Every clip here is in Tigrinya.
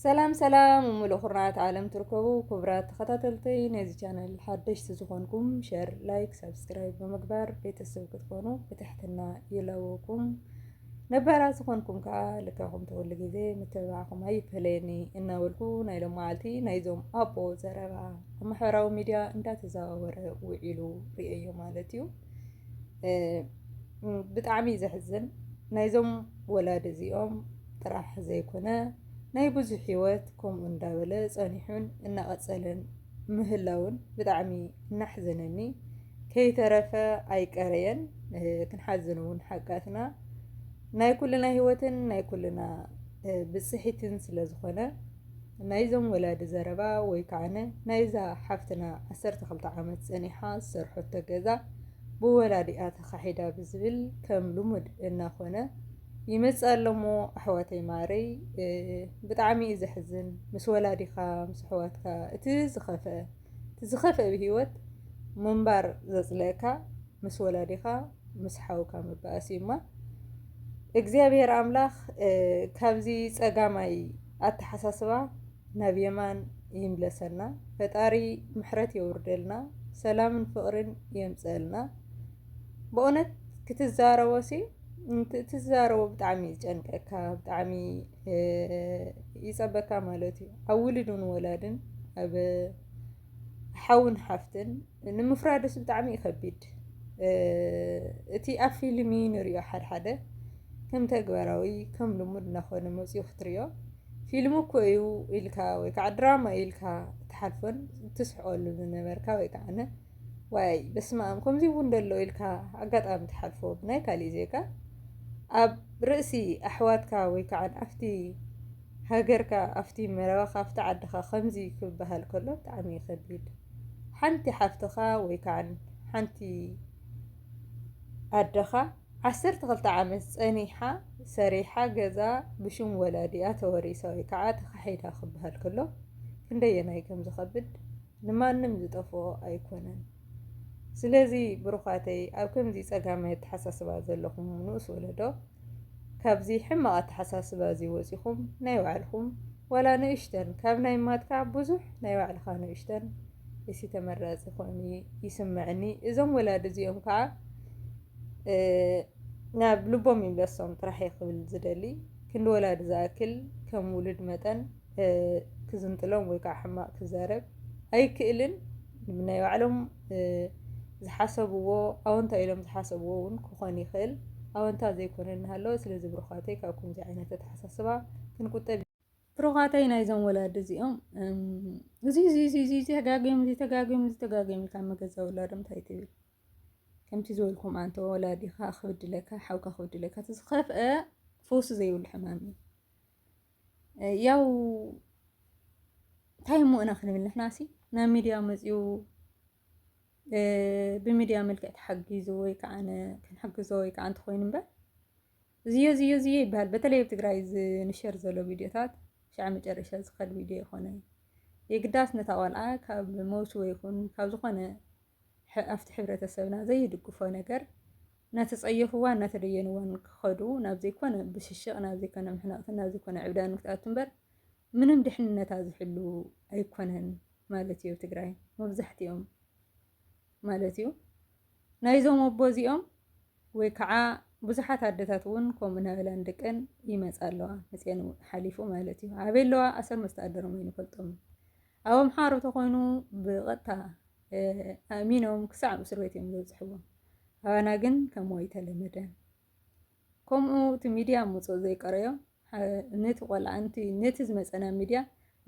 ሰላም ሰላም ሙሉእ ኩርናዓት ዓለም ትርከቡ ክቡራት ተኸታተልተይ ነዚ ቻናል ሓደሽቲ ዝኾንኩም ሸር ላይክ ሳብስክራይብ ብምግባር ቤተሰብ ክትኮኑ ብትሕትና ይለውኩም ነባራ ዝኾንኩም ከዓ ልካኹም ተወሉ ግዜ ምትብባዕኹም ኣይፈለየኒ እናበልኩ ናይ ሎም መዓልቲ ናይዞም ኣቦ ዘረባ ኣብ ማሕበራዊ ሚድያ እንዳተዘዋወረ ውዒሉ ርእዮ ማለት እዩ ብጣዕሚ እዩ ዘሕዝን ናይዞም ወላዲ እዚኦም ጥራሕ ዘይኮነ ናይ ብዙሕ ሂወት ከምኡ እንዳበለ ፀኒሑን እናቐፀለን ምህላዉን ብጣዕሚ እናሕዘነኒ ከይተረፈ ኣይቀረየን ክንሓዝን እውን ሓጋትና ናይ ኩልና ሂወትን ናይ ኩልና ብፅሒትን ስለዝኾነ ናይዞም ወላዲ ዘረባ ወይ ከዓነ ናይዛ ሓፍትና ዓሰርተ ክልተ ዓመት ጸኒሓ ዝሰርሖቶ ገዛ ብወላዲኣ ተኻሒዳ ብዝብል ከም ልሙድ እናኾነ ይመጽእ ኣሎሞ ኣሕዋተይ ማረይ ብጣዕሚ እዩ ዘሕዝን ምስ ወላዲኻ ምስ ኣሕዋትካ እቲ ዝኸፍአ እቲ ዝኸፍእ ኣብ ሂወት ምንባር ዘጽልእካ ምስ ወላዲኻ ምስ ሓውካ ምባእስ እዩ እማ እግዚኣብሔር ኣምላኽ ካብዚ ጸጋማይ ኣተሓሳስባ ናብ የማን ይምለሰና ፈጣሪ ምሕረት የውርደልና ሰላምን ፍቕርን የምጽእልና በእውነት ክትዛረቦ ሲ ትዛረቦ ብጣዕሚ እዩ ዝጨንቀካ ብጣዕሚ ይፀበካ ማለት እዩ ኣብ ውሉድን ወላድን ኣብ ሓውን ሓፍትን ንምፍራድስ ብጣዕሚ እዩ ከቢድ እቲ ኣብ ፊልሚ ንሪኦ ሓድሓደ ከም ተግባራዊ ከም ልሙድ እናኾነ መፂኡ ክትሪኦ ፊልሚ እኮ እዩ ኢልካ ወይ ከዓ ድራማ እዩ ኢልካ ትሓልፎን ትስሕቐሉን ዝነበርካ ወይ ከዓ ዋይ በስመኣም ከምዚ እውን ደሎ ኢልካ ኣጋጣሚ ትሓልፎ ብናይ ካሊእ ዜጋ ኣብ ርእሲ ኣሕዋትካ ወይ ከዓ ኣብቲ ሃገርካ ኣብቲ መረባኻ ኣብቲ ዓድኻ ከምዚ ክበሃል ከሎ ብጣዕሚ ይኸቢድ ሓንቲ ሓፍትኻ ወይ ከዓ ሓንቲ ኣደኻ ዓሰርተ ክልተ ዓመት ፀኒሓ ሰሪሓ ገዛ ብሽም ወላዲኣ ተወሪሳ ወይ ከዓ ተኻሒዳ ክበሃል ከሎ ክንደየናይ ከም ዝኸብድ ንማንም ዝጠፍኦ ኣይኮነን ስለዚ ብሩኻተይ ኣብ ከምዚ ጸጋማይ ኣተሓሳስባ ዘለኹም ንኡስ ወለዶ ካብዚ ሕማቕ ኣተሓሳስባ እዚ ወጺኹም ናይ ባዕልኹም ዋላ ንእሽተን ካብ ናይ ማትካ ብዙሕ ናይ ባዕልኻ ንእሽተን እሲ ተመራጺ ኮይኑ ይስምዕኒ እዞም ወላዲ እዚኦም ከዓ ናብ ልቦም ይምለሶም ጥራሕ ክብል ዝደሊ ክንዲ ወላዲ ዝኣክል ከም ውሉድ መጠን ክዝንጥሎም ወይ ከዓ ሕማቅ ክዛረብ ኣይክእልን ናይ ባዕሎም ዝሓሰብዎ ኣወንታ ኢሎም ዝሓሰብዎ እውን ክኾን ይኽእል ኣወንታ ዘይኮነ እናሃለወ ስለዚ ብሩኻተይ ካብ ከምዚ ዓይነት ኣተሓሳስባ ክንቁጠብ ብሩኻተይ ናይዞም ወላዲ እዚኦም እዚ እዚ እዚ እዚ ተጋጊዮም እዚ ተጋጊዮም እዚ ተጋጊዮም ኢልካ መገዛ ወላዶም እንታይ ትብል ከምቲ ዝበልኩም ኣንተ ወላዲኻ ክብድለካ ሓውካ ክብድለካ እቲ ዝኸፍአ ፈውሲ ዘይብሉ ሕማም እዩ ያው እንታይ እሞ ኢና ክንብል ንሕናሲ ናብ ሚድያ መፂኡ ብሚድያ መልክዕ ተሓጊዙ ወይ ከዓ ክንሕግዞ ወይ ከዓ እንተኾይኑ እምበር ዝዮ ዝዮ ዝዮ ይበሃል። በተለይ ኣብ ትግራይ ዝንሸር ዘሎ ቪድዮታት ሻዕ መጨረሻ ዝኸድ ቪድዮ ይኾነ የግዳስ ነታ ቆልዓ ካብ ሞት ወይ ይኹን ካብ ዝኾነ ኣብቲ ሕብረተሰብና ዘይድግፎ ነገር እናተጸየፍዋን እናተደየንዋን ክኸዱ ናብ ዘይኮነ ብሽሽቕ ናብ ዘይኮነ ምሕናቕትን ናብ ዘይኮነ ዕብዳን ክትኣቱ እምበር ምንም ድሕንነታ ዝሕሉ ኣይኮነን ማለት እዩ። ትግራይ መብዛሕትኦም ማለት እዩ ናይዞም ኣቦ እዚኦም ወይ ከዓ ብዙሓት ኣደታት እውን ከምኡ እናበላን ደቀን ይመፃ ኣለዋ መፅአን ሓሊፉ ማለት እዩ ኣበይ ኣለዋ ኣሰር መስተኣደሮም ኣይንፈልጦም ኣብ ኣምሓሩ ተኮይኑ ብቐጥታ ኣእሚኖም ክሳዕ ኣብ እስር ቤት እዮም ዘብፅሕዎም ኣባና ግን ከምኡ ኣይተለመደን ከምኡ እቲ ሚድያ ምፅኦ ዘይቀረዮ ነቲ ቆልዓ ነቲ ዝመፀና ሚድያ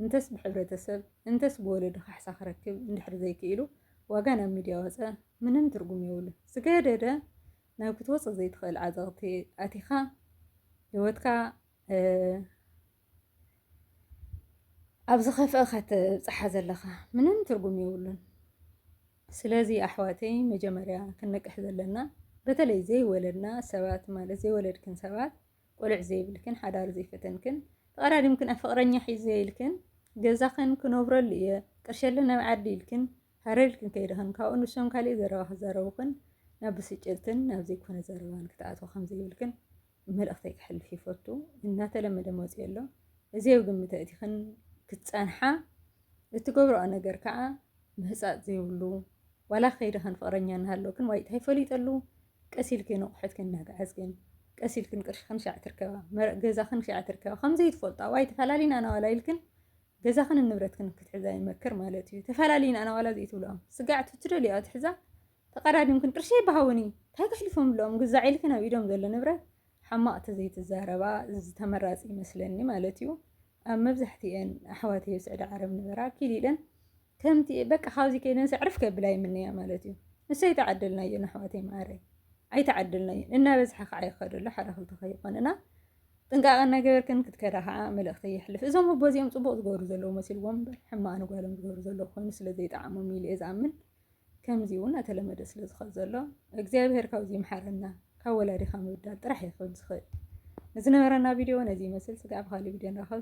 እንተስ ብሕብረተሰብ እንተስ ብወለዱ ካሕሳ ክረክብ እንድሕር ዘይክኢሉ ዋጋ ናብ ሚድያ ወፀ ምንም ትርጉም የብሉ ዝገደደ ናብ ክትወፅእ ዘይትኽእል ዓዘቕቲ ኣቲኻ ህይወትካ ኣብ ዝኸፍአ ከተብጽሓ ዘለኻ ምንም ትርጉም የብሉን። ስለዚ ኣሕዋተይ መጀመርያ ክንነቅሕ ዘለና በተለይ ዘይወለድና ሰባት ማለት ዘይወለድክን ሰባት ቆልዕ ዘይብልክን ሓዳር ዘይፈተንክን ተቐዳዲምክን ኣፍቕረኛ ሒዘ ኢልክን ገዛኽን ክነብረሉ እየ ቅርሸለ ናብ ዓዲ ኢልክን ሃረልክን ከይድኽን ካብኡ ንሶም ካሊእ ዘረባ ክዛረቡኽን ናብ ብስጭትን ናብ ዘይኮነ ዘረባን ክትኣትዎ ከምዘይብልክን መልእኽተይ ክሕልፍ ይፈቱ እናተለመደ መፅኡ ኣሎ እዚ ኣብ ግምት ኣእቲኽን ክትፀንሓ እትገብረኦ ነገር ከዓ ምህፃፅ ዘይብሉ ዋላ ከይድኽን ፍቕረኛ እናሃለውክን ዋይ እንታይ ፈሊጠሉ ቀስ ኢልክን ኣቑሑትክን እናገዓዝክን ቀስ ኢልክን ቅርሽኽን ሻዕ ትርከባ መረቕ ገዛኽን ሻዕ ትርከባ ከምዘይ ትፈልጣ ዋይ ተፈላለና ናዋላ ኢልክን ገዛኽን ንብረትክን ክትሕዛ ይመክር ማለት እዩ ተፈላለና ናዋላ ዘይትብልኦም ስጋዕ ትደልዮኦ ትሕዛ ተቀዳዲምክን ቅርሸይ ብሃውኒ እንታይ ከሕልፎምሎም ግዛዕ ኢልክን ኣብ ኢዶም ዘሎ ንብረት ሓማቅ ተዘይትዛረባ ዝተመራፂ ይመስለኒ ማለት እዩ ኣብ መብዛሕቲኤን ኣሕዋተይ ኣብ ስዕዲ ዓረብ ንበራ ኪል ኢለን ከምቲ በቃ ካብዚ ከይደን ሰዕርፍ ከብላ ይምነያ ማለት እዩ ንሱ ኣይተዓደልናዮን ኣሕዋተይ መዓረይ ኣይተዓደልናዮን እናበዝሐ ከዓ ይኸደሎ ሓደ ክልተ ከይኮንና ጥንቃቐ እናገበርክን ክትከዳ ከዓ መልእኽቲ የሕልፍ እዞም ኣቦ እዚኦም ፅቡቕ ዝገብሩ ዘለዉ መሲልዎም እምበር ሕማቕ ንጓሎም ዝገብሩ ዘለዉ ኮይኑ ስለ ዘይጠዓሞም ኢሉ እየ ዝኣምን ከምዚ እውን ኣተለመደ ስለ ዝኸድ ዘሎ እግዚኣብሔር ካብዚ ይምሓረና ካብ ወላዲኻ ምብዳል ጥራሕ እዩ ክብል ዝኽእል ንዝነበረና ቪድዮ ነዚ ይመስል ስጋዕ ብካሊ ቪድዮ ንራኸብ